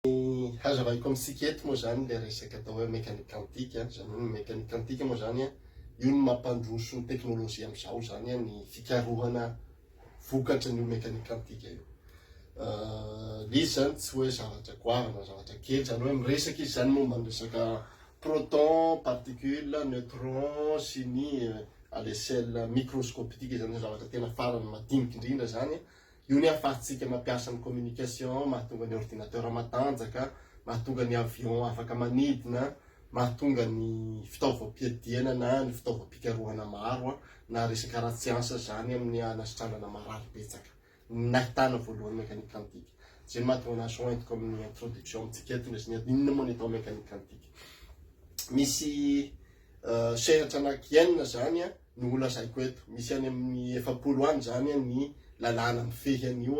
Ny hazavaiko amintsika eto moa izany ilay resaka atao hoe mécanique quantique an, izany hoe ny mécanique quantique moa izany an, io no mampandroso ny teknolojia amin'izao izany an, ny fikarohana vokatry ny io mécanique quantique io. Ilay izy izany tsy hoe zavatra goavana, zavatra kely, izany hoe miresaka izy izany momba ny resaka proton, particule, neutron sy ny à l'échelle microscopitique izany hoe zavatra tena farany madiniky indrindra izany an, Io ny ahafahantsika mampiasa ny communication, mahatonga ny ordinateur matanjaka, mahatonga ny avion afaka manidina, mahatonga ny fitaovam-piadiana na ny fitaovam-pikarohana maro na resaka ara-tsiansa izany amin'ny hanasitranana marary betsaka. Ny nahitana voalohany mécanique quantique. Izay no mahatonga an'azy ho entiko amin'ny introduction amintsika eto ny resaka inona moa ny atao mécanique quantique. Misy Sehatra anaky enina izany no ho lazaiko eto. Misy any amin'ny efapolo any izany ny lalàna mifehy an'io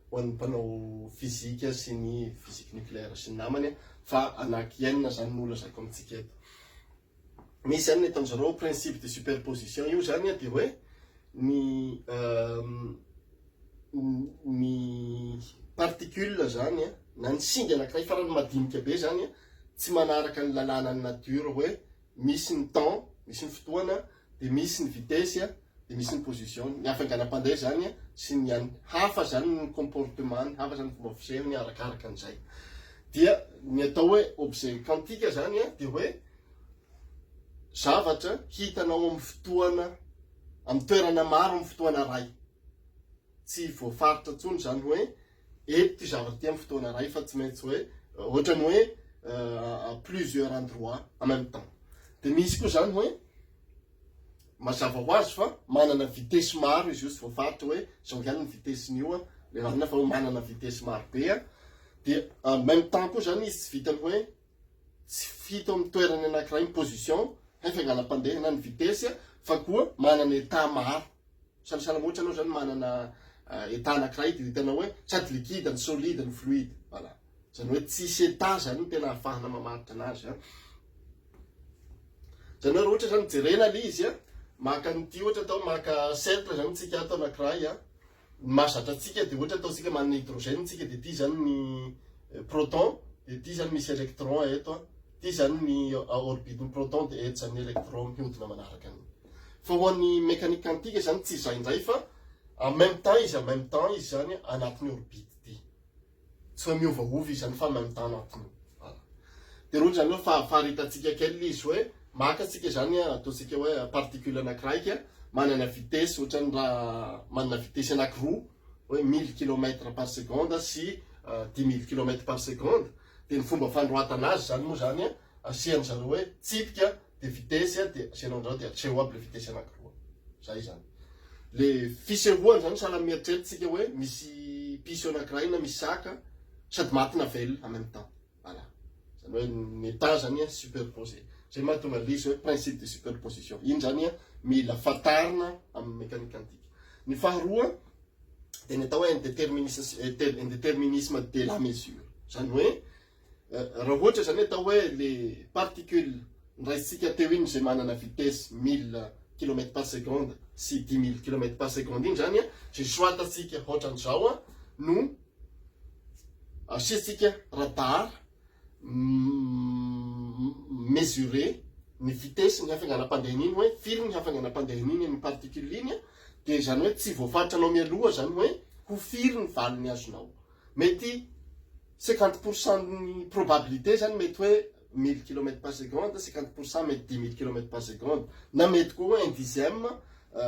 ho an'ny mpanao fizika sy ny physique nucléaire sy ny namany fa anaky enina izany no ho lazaiko amintsika eto. Misy any ny ataon'izy ireo principe de superposition. Io izany dia hoe ny ny particules zany an, na ny singa anakiray farany madinika be zany an, tsy manaraka ny lalàna ny nature hoe misy ny temps, misy ny fotoana, dia misy ny vitesse an, dia misy ny position-ny. Ny hafainganam-pandeha zany an, sy ny an, hafa zany ny comportement-ny, hafa zany ny fomba fisehony arakaraka an'izay. Dia ny atao hoe objet quantique zany an, dia hoe zavatra hitanao amin'ny fotoana, amin'ny toerana maro amin'ny fotoana iray. Tsy voafaritra intsony izany hoe eto ity zavatra ity amin'ny fotoana iray fa tsy maintsy hoe ohatrany hoe à plusieurs endroits en même temps. Dia misy koa izany hoe mazava ho azy fa manana vitesse maro izy io tsy voafaritra hoe izao ihany ny vitesse-n'io a, le marina fa manana vitesse maro be a. Dia en même temps koa izany izy tsy vitany hoe tsy fito amin'ny toerany anankiray ny position, hay fianganam-pandehana ny vitesse a, fa koa manana état maro. Sanisany moa tsy anao zany manana état anakiray de hitanao hoe sady liquide ny solide ny fluide voilà zany hoe tsisy état zany no tena ahafahana mamaritra anazy a zany hoe roatra zany jerena le izy a maka ny ty ohatra atao maka cercle zany tsika ato anakiray a ny mazatra tsika de ohatra atao tsika manana hydrogène tsika de ty zany ny eh, proton de ty zany misy électron eto a ty zany ny orbite ny proton de eto zany ny électron mihodina manaraka an'iny Fa ho an'ny mécanique quantique izany tsy izay indray fa en même temps izy en même temps izy izany anatin'ny orbite ty. Tsy hoe miovaova izy izany fa en même temps anatin'io. Voilà. Dia roa izany hoe fahafaharitantsika kely izy hoe maka antsika izany ataontsika hoe particule anakiraika manana vitesse ohatran'ny raha manana vitesse anakiroa hoe mille kilomètre par seconde sy euh, dix mille kilomètre par seconde dia ny fomba fanoratana azy izany moa izany asian'izareo hoe tsipika de vitesse a de aseanao andrao de atreho aby le vitesse anakiroa zay zany le fisehoany zany sahala amin'ny eritrerititsika hoe misy piso anakiray na misy saka sady maty na velona en même temps voilà zany hoe ny état zany a superposé zay mahatonga le izy hoe principe de superposition iny zany a mila fantarina amin'ny mécanique quantique ny faharoa de ny atao hoe indeterminisme indeterminisme de la mesure zany hoe Raha ohatra izany atao hoe le particule noraisintsika teo iny izay manana vitesse mille kilomètre par seconde sy dix mille kilomètre par seconde iny izany izay soatantsika hoatran'izao no asiantsika radar mesurer ny vitesse ny hafainganam-pandehany iny hoe firy ny hafainganam-pandehany iny ny particule iny dia izany hoe tsy voafaritranao mialoha izany hoe ho firy ny valiny azonao. Mety cinquante pour cent ny probabilité zany mety hoe mille kilomètre par seconde, cinquante pour cent mety dix mille kilomètre par seconde, na mety koa hoe un dixième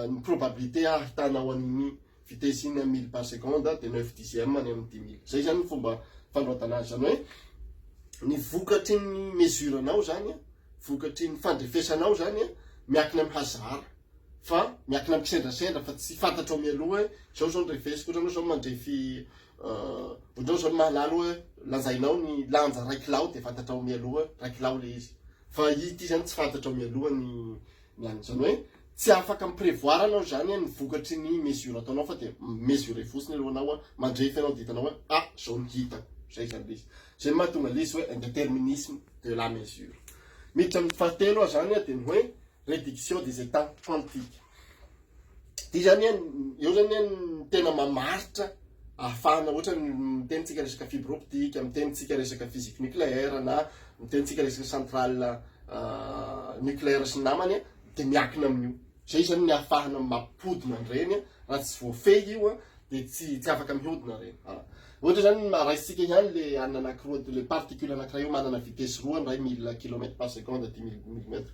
ny probabilité hahitanao an'iny vitesse iny amin'ny mille par seconde dia neuf dixième ny amin'ny dix mille. Izay zany ny fomba fanoratana azy. Zany hoe ny vokatry ny mesure-nao zany, vokatry ny fandrefesanao zany miakina amin'ny hazara. fa miakina mikisendrasendra fa tsy fantatrao mialoha hoe zao zao ny refesiko, ohatranao zao mandrefy ohatranao zao ny mahalala hoe lanjainao ny lanja ray kilao dia fantatrao mialoha ray kilao le izy fa ity zany tsy fantatrao mialoha ny ny an'ny zany hoe tsy afaka mi-prévoir anao zany ny vokatry ny mesure ataonao fa dia mesurer fotsiny aloha anao mandrefy anao dia hitanao hoe ah zao ny hitako zay zany le izy zay ny mahatonga le izy hoe un déterminisme de la mesure miditra amin'ny fahatelo aho zany dia ny hoe Réduction des états quantiques. Dia izany an, eo izany an ny tena mamaritra ahafahana ohatra ny mitenintsika resaka fibre optique, mitenintsika resaka physique nucléaire na mitenintsika resaka centrale nucléaire sy ny namany an, dia miakina amin'io. Izay izany ny ahafahana mampodina an'ireny an, raha tsy voafehy io an, dia tsy tsy afaka mihodina ireny. Voilà. Ohatra izany ny maha-raisitsika ihany le anana anakiroa, le particule anakiray io manana vitesse roa ny iray mille kilomètre par seconde dimy mille mètre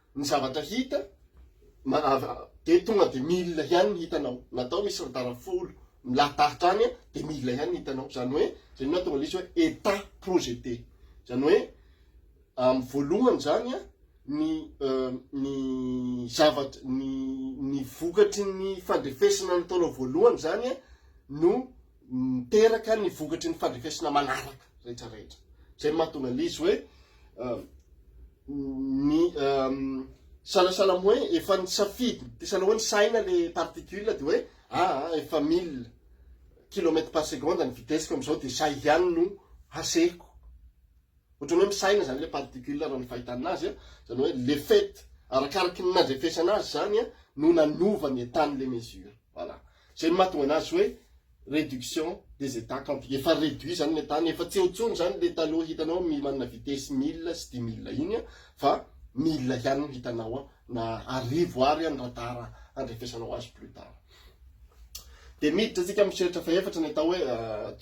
Ny zavatra hita, dia tonga dia mille ihany ny hitanao, na atao misy retard folo milahidahitra any dia mille ihany ny hitanao, izany hoe izay no nahatonga ilay izy hoe état projeté, izany hoe amin'ny voalohany izany ny ny zavatra ny ny vokatry ny fandrefesana nataonao voalohany izany no miteraka ny vokatry ny fandrefesana manaraka rehetra rehetra. Izay no mahatonga an'ilay izy hoe ny sahasahala hoe efa ny safidy, dia sahala hoe ny saina le particule dia hoe ah, ah efa mille kilomètre par seconde ny vitesse-ko amin'izao dia izay ihany no hasehiko. Ohatran'ny hoe misaina izany ilay particule raha ny fahitana azy, izany hoe le fait arakaraky ny nandrefesana azy izany no nanova ny état-n'ilay mesure. Voilà. Zay no mahatonga anazy hoe réduction des états quantiques, efa réduit zany ny état-ny, efa tsy eo intsony zany ilay taloha hitanao mi manana vitesse mille sy dimy mille iny fa mille ihany no hitanao ao na arivo ary any raha tara handrefesanao azy plus tard. Dia miditra antsika amin'ny fihiratra fahefatra ny atao hoe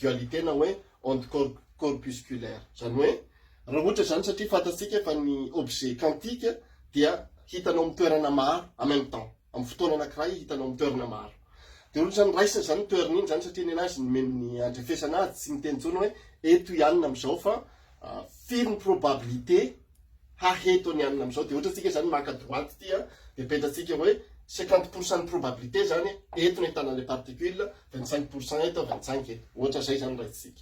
dualité na hoe onde corpusculaire, zany hoe raha ohatra zany satria fantatsika fa ny objet quantique dia hitanao amin'ny toerana maro en même temps, amin'ny fotoana anankiray hitanao amin'ny toerana maro. Dia ohatrany raisina izany ny toerana iny izany satria ny anazy nomeny ny andrefesana azy, tsy miteny intsony hoe eto i Anna amin'izao fa firy ny probabilité haheto an'i Anna amin'izao. Dia ohatra antsika izany maka droite ity a, dia petratsika hoe cinquante pour cent ny probabilité izany e, eto no ahitana ilay particule, vingt cinq pour cent eto, vingt cinq eto. Ohatra izay izany raisintsika.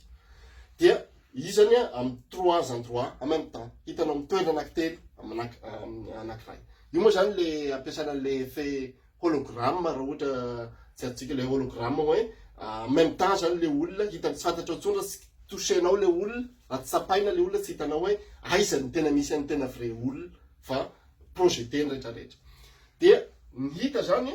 Dia izy izany amin'ny trois endroits en même temps, hitanao amin'ny toerana anankitelo, amin'ny anankiray. Io moa zany le ampiasana an'le effet hologramme raha ohatra tsy adintsika le hologramme hoe en même temps zany le olona hitan'ny tsy fantatrao intsony raha tsy toucher-nao le olona, raha tsy tsapaina le olona tsy hitanao hoe aiza no tena misy an'ny tena vrai olona fa projeter ny retraretra. Dia ny hita zany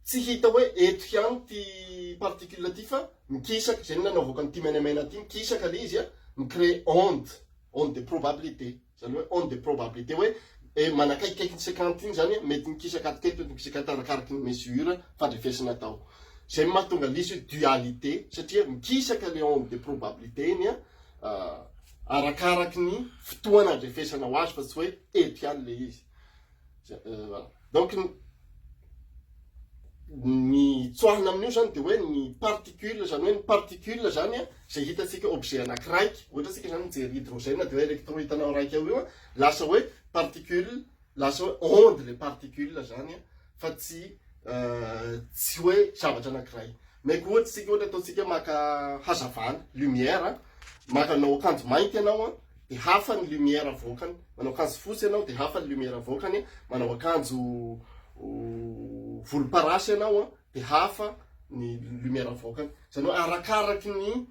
tsy hita hoe eto ihany ity particule ity fa mikisaka, zay no nanaovako an'ity menamena ity, mikisaka le izy an, mi-crée onde, onde de probabilité. Izany hoe onde de probabilité hoe eh, manakaikikaiky ny sekanta iny, izany hoe mety mikisaka ato kely, mety mikisaka ato arakaraky ny mesure fandrefesana atao. Izay no mahatonga l'izy hoe dualité satria mikisaka ilay onde de probabilité iny ah, arakaraky ny fotoana andrefesana ho azy fa tsy hoe eto ihany ilay izy. donc ny tsoahina amin'io zany de hoe ny particule zany hoe ny particule zany a zay hitatsika objet anakiraiky ohatra tsika zany mijery hydrogène de hoe electron hitanao raiky ao io a lasa hoe particule lasa hoe onde le particule zany a fa tsy tsy hoe zavatra anakiray meko ohatsy tsika ohatra ataotsika maka hazavana lumière maka anao akanjo mainty ianao a dia hafa ny lumière avoakany, manao akanjo fotsy ianao dia hafa ny lumière avoakany, manao akanjo volomparasy ianao an dia hafa ny lumière avoakany. Izany hoe arakaraky ny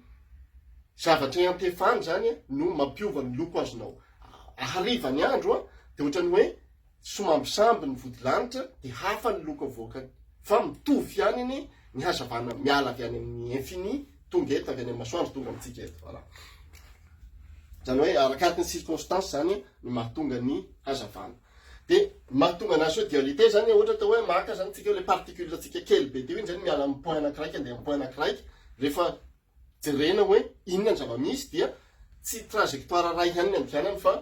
zavatra iantefany izany no mampiova ny loko azonao. Hariva ny andro an dia ohatran'ny hoe somambisamby ny vodilanitra dia hafa ny loko avoakany fa mitovy ihany anie ny hazavana miala avy any amin'ny infini tonga eto avy any amin'ny masoandro tonga amintsika eto voilà zany hoe arakaraky ny circonstance zany ny mahatonga ny hazavana dia mahatonga anazy hoe dualité zany ohatra atao hoe maka zany tsika le particule tsika kely be teo iny zany miala amin'ny point anakiraika andeha amin'ny point anakiraika rehefa jerena hoe inona ny zava-misy dia tsy trajectoire iray ihany ny andianany fa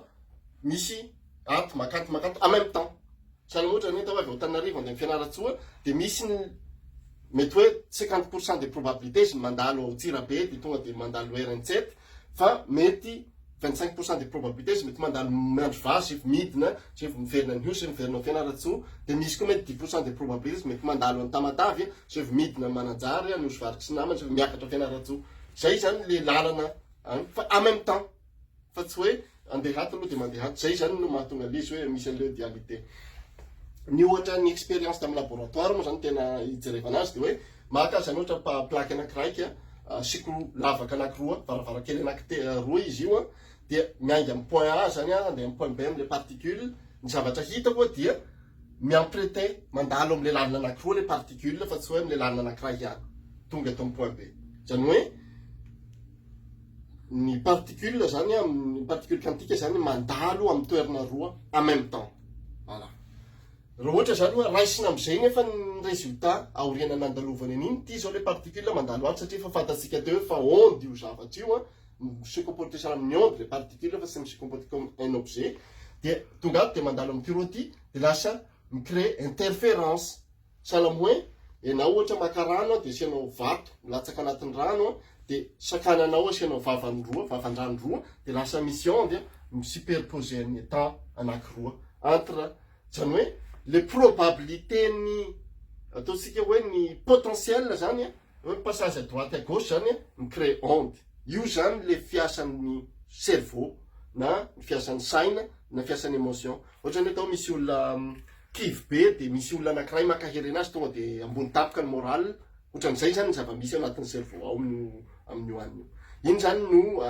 misy ato maka ato maka ato en même temps. Sahala ohatra ny hoe atao avy ao Antananarivo handeha any Fianarantsoa dia misy ny mety hoe 50 pourcent des probabilités ny mandalo ao Antsirabe dia tonga dia mandalo RN7 fa mety Vingt cinq pour cent de probabilité izy mety mandalo miandry vary sy vao midina sy vao miverina ny osy miverina ao Fianarantsoa dia misy koa mety dix pour cent de probabilité izy mety mandalo any Tamatave sy vao midina any Mananjary any osy vary sy namany sy vao miakatra ao Fianarantsoa zay zany le lalana any fa en même temps fa tsy hoe andeha ato aloha dia mandeha ato zay zany no mahatonga le izy hoe misy an'ireo dualité ny ohatra ny expérience tamin'ny laboratoire moa zany tena ijerevana azy dia hoe Maka izany ohatra pa- plaque anakiraika, asiko lavaka anakiroa, varavarankely anakite- roa izy io an, dia miainga amin'ny point A izany an, handeha amin'ny point B amin'ilay particule, ny zavatra hita moa dia mi-emprunter, mandalo amin'ilay lalana anakiroa ilay particule fa tsy hoe amin'ilay lalana anakiray ihany, tonga eto amin'ny point B. Izany hoe ny particule izany an, ny particule quantique izany mandalo amin'ny toerana roa en même temps. Voilà. Raha ohatra izany oa raisina amin'izay nefa ny résultat aoriana nandalovany an'iny, ity izao ilay particule mandalo any satria efa fantatsika teo fa onde io zavatra io an, mi-se comporter sur amin'ny onde ilay particule fa tsy mi-se comporter comme un objet, dia tonga ato dia mandalo amin'ity roa ity dia lasa mi-créer interférence, sahala amin'ny hoe ianao ohatra maka rano an dia asianao vato milatsaka anatin'ny rano an dia sakananao asianao vavany roa, vavan-drano roa dia lasa misy onde mi-superposer ny étant anakiroa entre Zany hoe le probabilité ny ataontsika hoe ny potentiel zany a, hoe passage à droite à gauche zany a, mi-créer onde. Io zany le fiasan'ny cerveau na ny fiasan'ny saina na fiasan'ny emotion. Ohatra ny atao misy olona kivy be de misy olona anakiray mankahery anazy tonga de ambony tampoka ny morale, otran'izay zany ny zava-misy ao anatin'ny cerveau ao amin'io amin'io anio. Iny zany no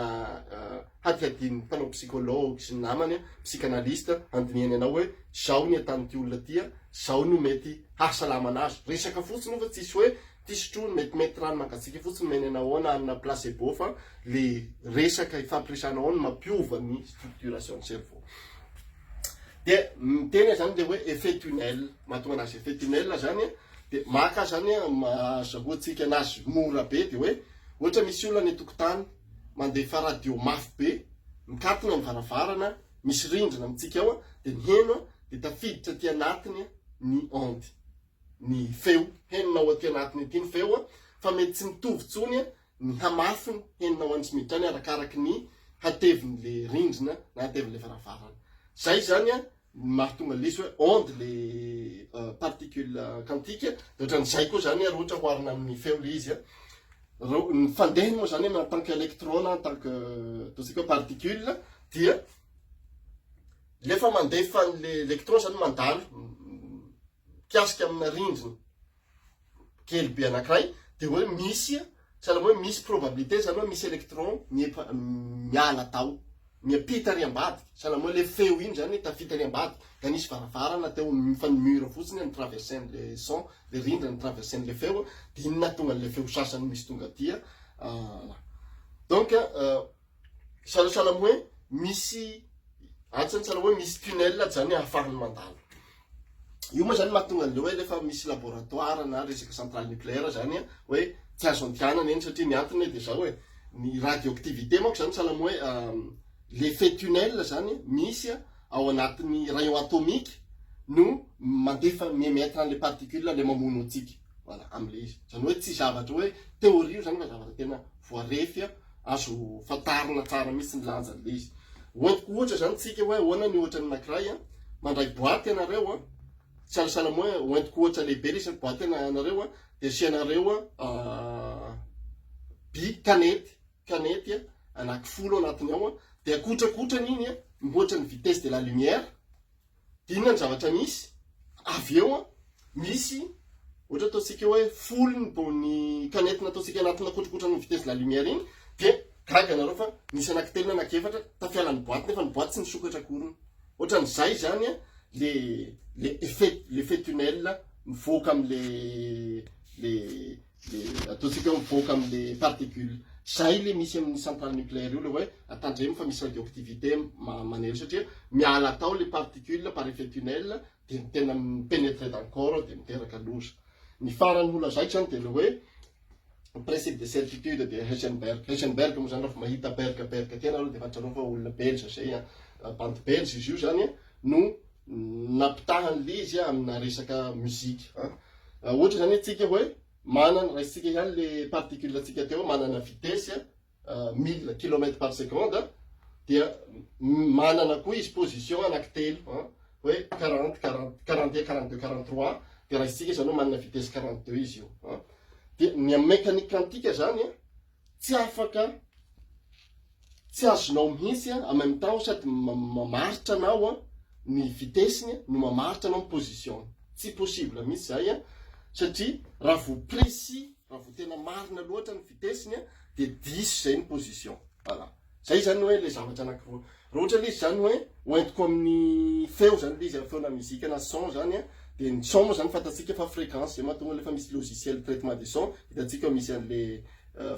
hadihadian'ny mpanao psychologue sy ny namany psychanaliste handinihany anao hoe zao ny ataon'ity olona ity a, zao no mety hahasalamana azy. Resaka fotsiny io fa tsisy hoe ity sotroiny metimety rano mangatsiaka fotsiny omeny anao ao na hanina placebo fa le resaka ifampiresahana ao no mampiova ny structuration cerveau. De miteny aho zany le hoe effet tunnel, mahatonga anazy effet tunnel zany a, de maka zany a, azahoantsika anazy mora be de hoe ohatra misy olona any an-tokotany, mandefa radio mafy be, mikatona ny varavarana, misy rindrina amintsika ao, dia miheno, dia tafiditra aty anatiny ny onde, ny feo, henonao aty anatiny aty ny feo, fa mety tsy mitovy intsony ny hamafiny, henonao any sy miditra any arakaraky ny hatevin'ilay rindrina na hatevin'ilay varavarana. Izay izany ny mahatonga lesy hoe onde le particule quantique de otran'izay koa zany ary ohatra oharina amin'ny feo le izy ny fandehany moa zany en tant que électrone en tant que ataontsika hoe particule dia lefa mandefa an'le électron zany mandalo mikasika amina rindrina kely be anankiray dia hoe misy sahalan'ny hoe misy probabilité izany hoe misy électron miepa- miala tao miampita ary ambadika sahalan'ny hoe le feo iny izany hoe tafita ary ambadika ka nisy varavarana teo amin'ny fa ny mur fotsiny no traversen'le son le rindra no traversen'le feo dia iny nahatonga an'le feo sasany misy tonga aty ah, donc ah, Sahasahala amin'ny hoe misy sahasahala hoe misy tunnel izany ahafahan'ny mandalo. Io moa izany mahatonga an'ilay hoe rehefa misy laboratoire na resaka centrale nucléaire izany hoe tsy azo andianana eny satria ny antony hoe dia izao e, ny radioactivité manko izany sahala amin'ny hoe l'effet tunnel izany misy ao anatin'ny rayon atomique no mandefa, mi-emettre an'ilay particule ilay mamono antsika. voilà amin'ilay izy, izany hoe tsy zavatra hoe théorie io izany fa zavatra tena voarefy an, azo fantarina tsara mihitsy ny lanjan'ilay izy. Hoentiko ohatra izany tsika hoe ahoana ny ohatra ny anankiray an, mandray boaty ianareo an, sahasahala hoe hoentiko ohatra lehibe ilay izy, boaty ianareo an, dia asianareo an by kanety, kanety an, anaky folo anatiny ao an, dia akotrakotrany iny an, mihoatra ny vitesse de la lumière, Inona ny zavatra misy avy eo an? Misy ohatra ataontsika hoe folo ny bone planète nataontsika anatina kotrokotran' ny vitesse de la lumière iny dia gaga ianareo fa nisy anankitelo na anankiefatra tafiala ny boaty nefa ny boaty tsy nisokatra akoriny. Ohatran'izay izany an le le effet l'effet tunnel mivoaka amin'le le le ataontsika hoe mivoaka amin'ny particule zay le misy amin'ny centrale nucléaire io le hoe atandremo fa misy radioactivité manely satria miala tao le particule par effet tunnel de ny tena mipenetre dans corps de miteraka loza ny farany ho lazaiko zany de le hoe principe de certitude de Heisenberg Heisenberg moa zany raha mahita berg berg tena aloha de fantatrareo fa olona belge zay an bandy belge izy io zany no nampitahan lé izy amina resaka musique a ohatra zany atsika hoe manana raisintsika ihany le particule atsika teo manana vitesse mille kilomètre par seconde dia manana koa izy position anaky telo hoe quarante quarante quarante un quarante deux quarante trois dia raisintsika zany hoe manana vitesse quarante deux izy io dia ny aminy mécanique quantique zany tsy afaka tsy azonao mihitsy en même temps sady mamaritra anao an ny vitesse-ny no mamaritra anao ny position-ny tsy possible mihitsy izay an satria raha vao précis raha vao tena marina loatra ny vitesse-ny dia diso izay ny position voilà Zay zany hoe le zavatra anakiroa. Raha ohatra le izy zany hoe hoentiko amin'ny feo zany le izy a, feo na mizika na son zany a, de ny son moa zany fantatsika fa fréquence, zay mahatonga an'le fa misy logiciel de traitement de son, hitantsika ao misy an'le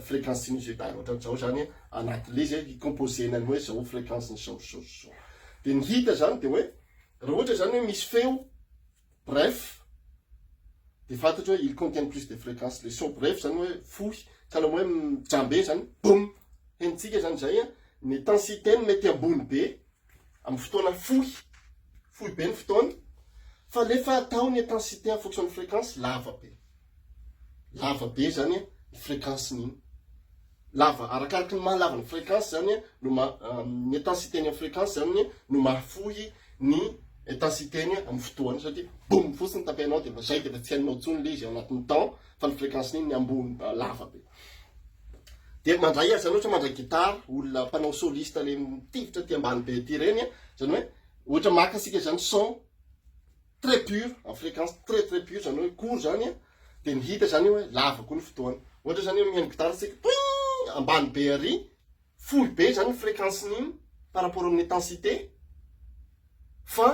fréquence sinusoidale ohatran'zao zany a, anatin'le izy a, hi-composer-na ny hoe zao fréquence-ny zao sy zao sy zao. De ny hita zany de hoe raha ohatra zany hoe misy feo, Bref, dia fantatro hoe ils contiennent plus de fréquence, les sons brefs zany hoe fohy, ka na hoe mijambe zany, boum! Henontsika zany izay an, ny intensité-ny mety ambony be amin'ny fotoana fohy, fohy be ny fotoana, fa rehefa atao ny intensité en fonction ny fréquence, lava be. Lava be zany ny fréquence ny iny. Lava, arakaraky ny maha lava ny fréquence zany no maha, ny intensité ny amin'ny fréquence zany no mahafohy ny intensité ny amin'ny fotoana satria boum fotsiny tapainao dia efa zay dia efa tsy hainao intsony le izy ao anatin'ny temps fa ny fréquence ny iny ny ambony lava be. Dia mandray azy zany ohatra mandray guitare olona mpanao soliste le mitifitra aty ambany be aty ireny zany hoe ohatra maka isika zany son très pur en fréquence très très pur zany hoe court zany a de ny hita zany hoe lava koa ny fotoana ohatra zany hoe mihaino gitara tsika toing ambany be ary fohy be zany ny fréquence n'iny par rapport amin'ny intensité fa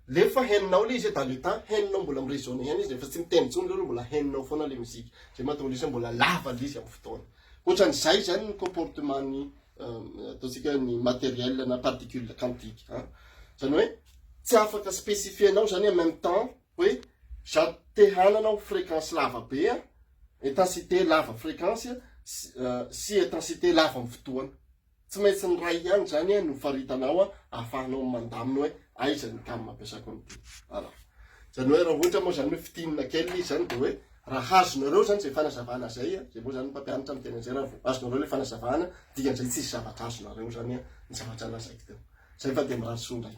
lefa henonao le izy hoe dans le temps henonao mbola mi-résonne ihany izy rehefa tsy miteny intsony leroa mbola henonao foana le musique zay mahatonga le izy hoe mbola lava le izy amin'ny fotoana ohatran'izay zany ny comportement ny ataontsika ny matériel na particule quantique a zany hoe tsy afaka spécifienao zany en même temps hoe za te hanana ho fréquence lava be a intensité lava fréquence sy intensité lava amin'ny fotoana tsy maintsy ny ray ihany zany a no faritanao a ahafahanao mandamina hoe aiza ny gamme ampiasako an'ity voilà zany hoe raha ohatra moa zany hoe fitinina kely izy zany de hoe Raha azonareo izany izay fanazavana izay, izay moa izany mpampianatra ny tena izay, raha vao azonareo ilay fanazavana, dikan'izay tsisy zavatra azonareo izany ny zavatra lazaiko teo. Izay fa dia mirary soa indray.